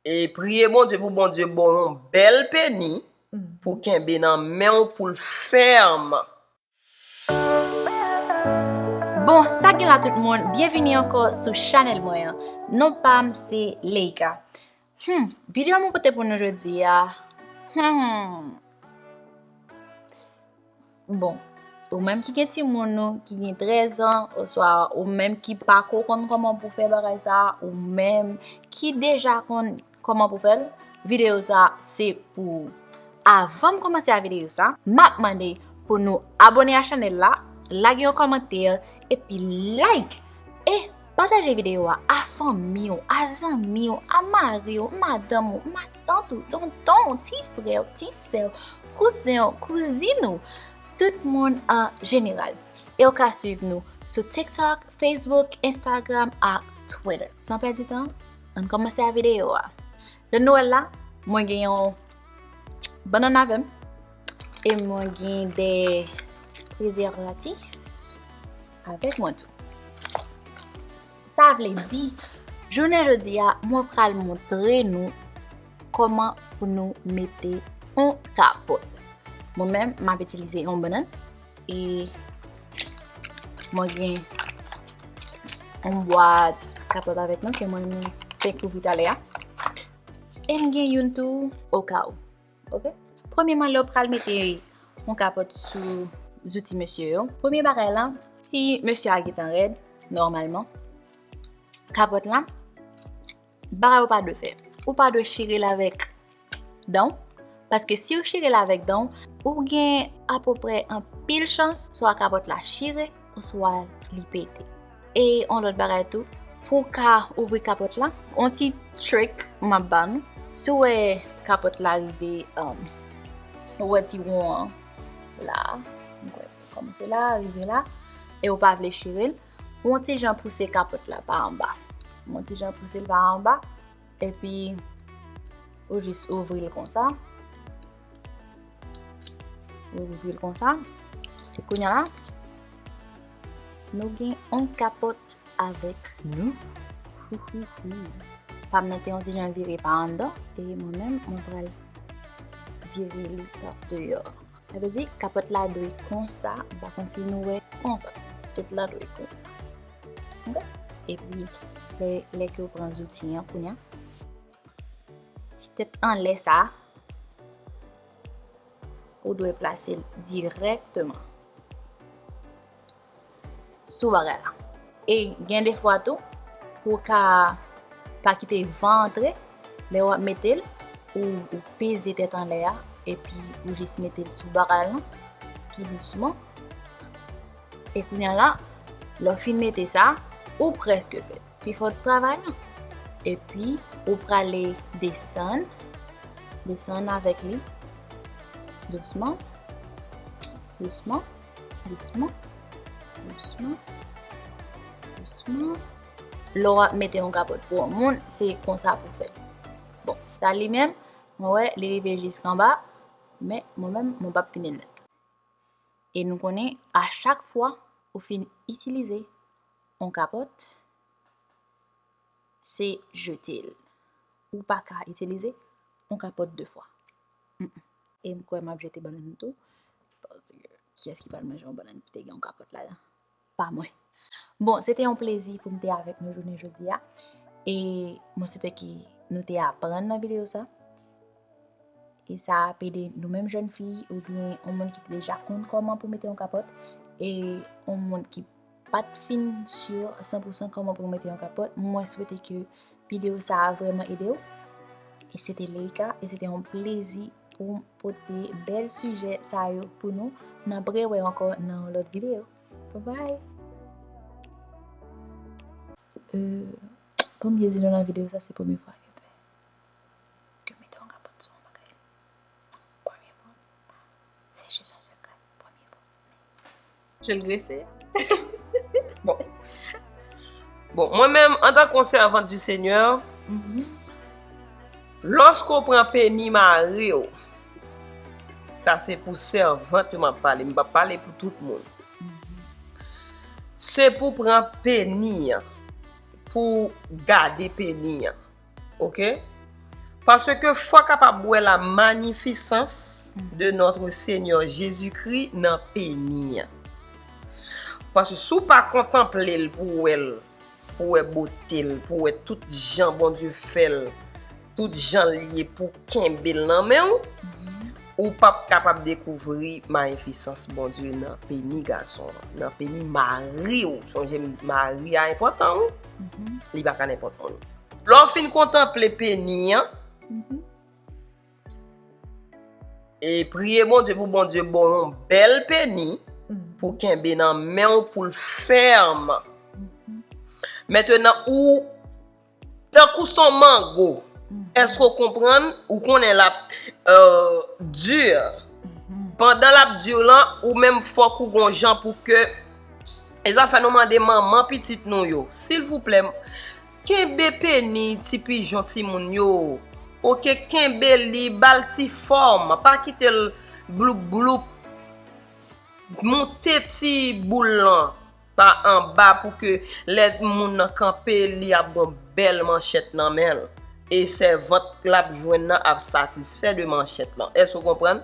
E priye Bondye pou Bondye ba w yon bèl peni pou w kenbe nan men w pou l fèm. Bon sa gen la tout moun byenvini ankò sou chanèl mwen an non pam se Leïca humm vidéo mwen pote pou nou jodi a humm. Bon, ou menm ki gen timoun nou ki gen 13 an, oswa ou menm ki pa ko konn koman pou fè bagay sa, ou menm ki deja konn koman pou fèl, videyo sa se pou ou. Avan m komanse a videyo sa, m ap mande pou nou abone a chanèl la, lage yon kòmantè, epi like! E! Pataje videyo a a fanmi ou, a zanmi ou, a mari ou, madanm ou, matant ou, tonton ou, ti frè ou, ti sè ou, kouzen ou, kouzin ou, tout moun an jeneral. E ou ka swiv nou sou TikTok, Facebook, Instagram ak Twitter. San pèdi tan, ann kòmanse a videyo a. Lè nou wè la, mwen gen yon banana vèm e mwen gen de prezervatif. avèk mwen tou. Sa vle di, jounen jodi a, mwen pral montre nou kòman pou nou mete yon kapòt. Mwen men, m ap itilize yon banan, e mwen gen yon bwad kapòt avèk mwen ke mwen te kouvri talè a. E m gen yon tou okawou. ok premyeman lèw pral mete yon kapòt sou zouti mesye yo premye bagay la si mesye a gentan rèd nòmalman kapòt la bagay ou pa dwe fè ou pa dwe chire l avèk danw paske siw chire l avèk danw ou gen apoprè anpil chans swa kapòt la chire oswa li pete. E on lòt bagay tou, pou ka ouvri kapòt la, on ti trick m ap ba nou, si w wè kapòt la rive, ou wè ti won an la, kòmanse la, rive la, e ou pa vle chire l, on ti jan pouse kapòt la pa anba, on ti jan pouse l pa anba, Epi, ou jis ouvri l konsa. Ou ouvri l konsa. E kounye la, nou gen yon kapot avèk nou. Pam nan te yon ti jan vire pa anndan. E mwen menm, mwen pral vire li pa deyò. Sa vle di kapòt la dwe konsa, m pa konn si nou wè, konsa, tèt la dwe konsa, ok, epi lè ke ou pran zouti an kounya, ti tèt anlè sa, ou dwe plase l dirèkteman. sou bagay la. E gen defwa tou, pou ka pa kite van antre, lè wap metel, ou peze tèt anlè a, epi ou jis metel sou bagay lan, tou dousman. E kounye la, lè ou fin mete sa, ou preske fèt. Pi fò ti travay lan. Epi, ou prale desann, desann avèk li, dousman, dousman. Dousman. Dousman. Dousman. Lè w ap mete yon kapòt pou yon moun, se konsa pou fè. Bon, sa li menm, mwen wè li rive jis kanba, men mwen menm mwen pap fini l nèt. E nou konnen a chak fwa ou fin itilize yon kapòt, se jete l. Ou pa ka itilize yon kapòt de fwa. E m kwè m ap jete bannann m tou. Paske kiyès ki pral manje yon bannann ki te gen yon kapòt ladan? Pa mwen. Bon, se te yon plezi pou m te avèk nou jounen jodi a. E mwen swete ke nou te aprann nan videyo sa. E sa ap ede nou menm jèn fi oubyen yon moun ki deja konn kòman pou mete yon kapòt. E yon moun ki Pat fin sur san pou san kòman pou w mete yon kapòt, mwen swete ke video sa a vrèman ede w. E se te Leïka, e se te yon plezi pou m pote bèl sijè sa yo pou nou. N ap rewè ankò nan yon lòt video. Bye! Pou m byen di nou nan video sa se premye fwa ke ke mete yon kapòt sou yon bagay. Premye fwa. Sèche son sekrè. Premye fwa. Je l grese. Bon. Bon, mwen menm, an tan kon sèvant du Seigneur, mm-hmm. lòske ou pran peni mari ou, sa se pou sèvant ou map pale, mwen pa pale pou tout moun. Se pou pran peni an, pou gade peni an. Ok Paske fwa kapab wè la manifisans de notre Senyè Jezi Kri nan peni an. Paske si w pa kontanple l pou wè l, pou wè bote l, pou wè tout jan Bondye fè l, tout jan l ye pou w kenbe l nan men w, ou p ap kapab dekouvri mayifisans Bondye nan peni gason an, nan peni mari w. Sonje m, mari a enpòtan wi. Li pa ka nenpòt moun. Lè w fin kontanple peni an, e priye Bondye pou Bondye ba w yon bèl peni pou w kenbe nan men w pou l fèm. Mentenan ou, tankou s on mango, èske w konprann, ou konnen l ap di, pandan l ap di lan, ou menm fòk ou gon jan pou ke E zafè nou mande manman pitit nou yo, silvouplè, kenbe peni ti pijon timoun yo, ok, kenbe li, ba l ti fòm, pa kite l bloup bloup, moute ti boul lan pa anba pou ke lè moun nan kanpe li ap gon bèl manchèt nan men l, e sèvant l ap jwenn nan ap satisfè de manchèt lan. Èske ou konprann?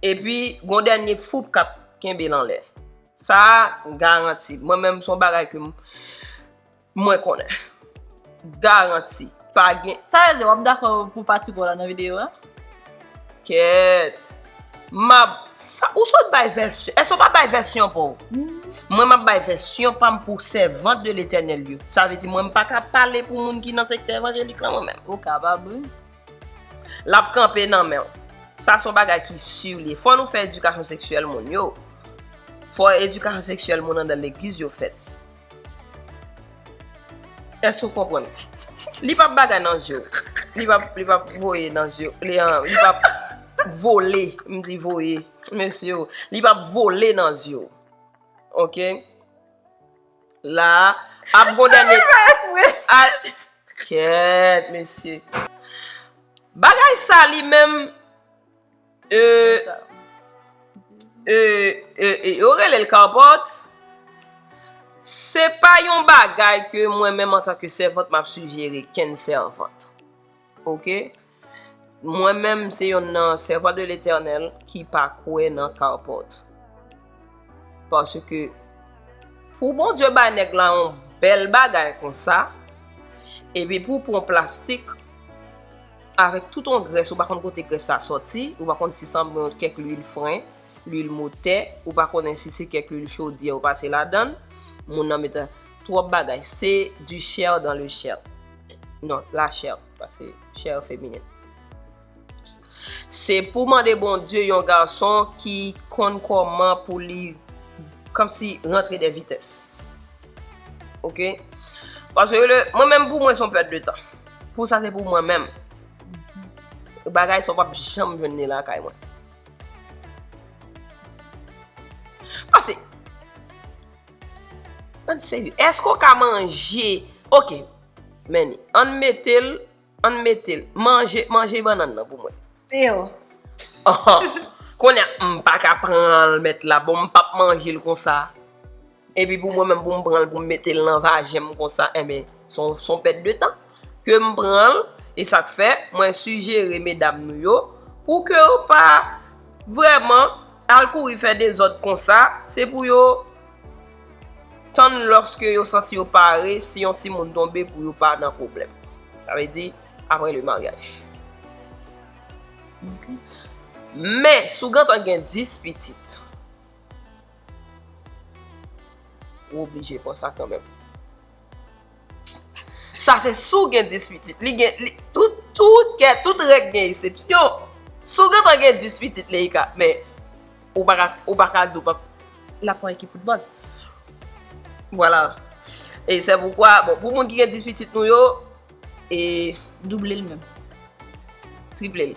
Epi gon dènye foup kap kenbe l anlè. Sa a garanti. Mwen menm son bagay ke mwen konnen. Garanti. Pa gen. Sa vle di wap dakò pou pati po la nan video a? Kèt. Map. Ou sot bay vèsyon. Èske ou pa bay vèsyon pa w? Mwen map bay vèsyon pa m pou sèvant de Letènèl yo. Sa vle di mwen m paka pale pou moun ki nan sektè evanjelik lan mwen menm. Ou kapab wi. Lap kanpe nan menw. Sa son bagay ki sur liye. Fò nou fè edikasyon seksyèl moun yo. Fò edikasyon seksyèl moun andan legliz yo fèt. Èske ou konprann? Li pap bagay nan zyew. Li pap voye nan zyew. Li pap vole. M di voye. Mesye o. Li pap vole nan zyew. Ok? La a ap gon dènye. Mwen pa espre. Kèèt mesye. Bagay sa li menm. Eee. Eee. Yo rele l kapòt. Se pa yon bagay ke mwen menm antanke sèvant m ap sijere kenn sèvant. Ok. Eee. Mwen menm se yon nan sèvan de l'Eternel ki pa kwe nan carport. Paske pou bon Dieu bay nèg la yon bèl bagay kon sa, epi pou pran plastik avèk tout yon grès ou pa konn kote grès sa soti, ou pa konn si san bon kèk lwil fren, lwil motè, ou pa konnen si se kèk lwil chodyè ou pase ladann, moun nan mete trop bagay, se du chair dans le chair. Non, la chair. Pase chère féminine. Se pou mande Bondye yon gason ki konn koman pou li kom si rantre de vitès. Ok. Pase le, mwen menm pou mwen son pèt de tan. Pou sa se pou mwen menm. Bagay sa w pap janm jwenn ni lakay mwen. Pase, an serye, eske w ka manje, ok. Men li. Ann mete l, ann mete l. Manje, manje bannann nan pou mwen. Pio. Konya m pa ka pran l met la, bon m pap manje l konsa. Epi pou mwen menm pou m pran l pou m mete l nan vajen m konsa, enben, s on pèt de tan. Ke m pran l, e sa k fè, mwen sijere medam nou yo, pou ke yo pa vrèman al kouri fè dezòd konsa, se pou yo. Tann lòske yo santi yo pare, si yon timoun tonbe pou yo pa nan pwoblèm. Sa vle di, apre le maryaj. Men, si w gentan gen 10 pitit, ou oblije pran sa kanmenm. Sa se si w gen 10 pitit. Li gen, li, tout, tout kè, tout règ gen esepsyon. Si w gentan gen 10 pitit Leïka, men, ou pa ka, ou pa ka di w pa p. L ap pran ekip foutbòl. Vwala. E se poukwa, bon, pou moun ki gen 10 pitit nou yo, e. Double l menm. Triple l.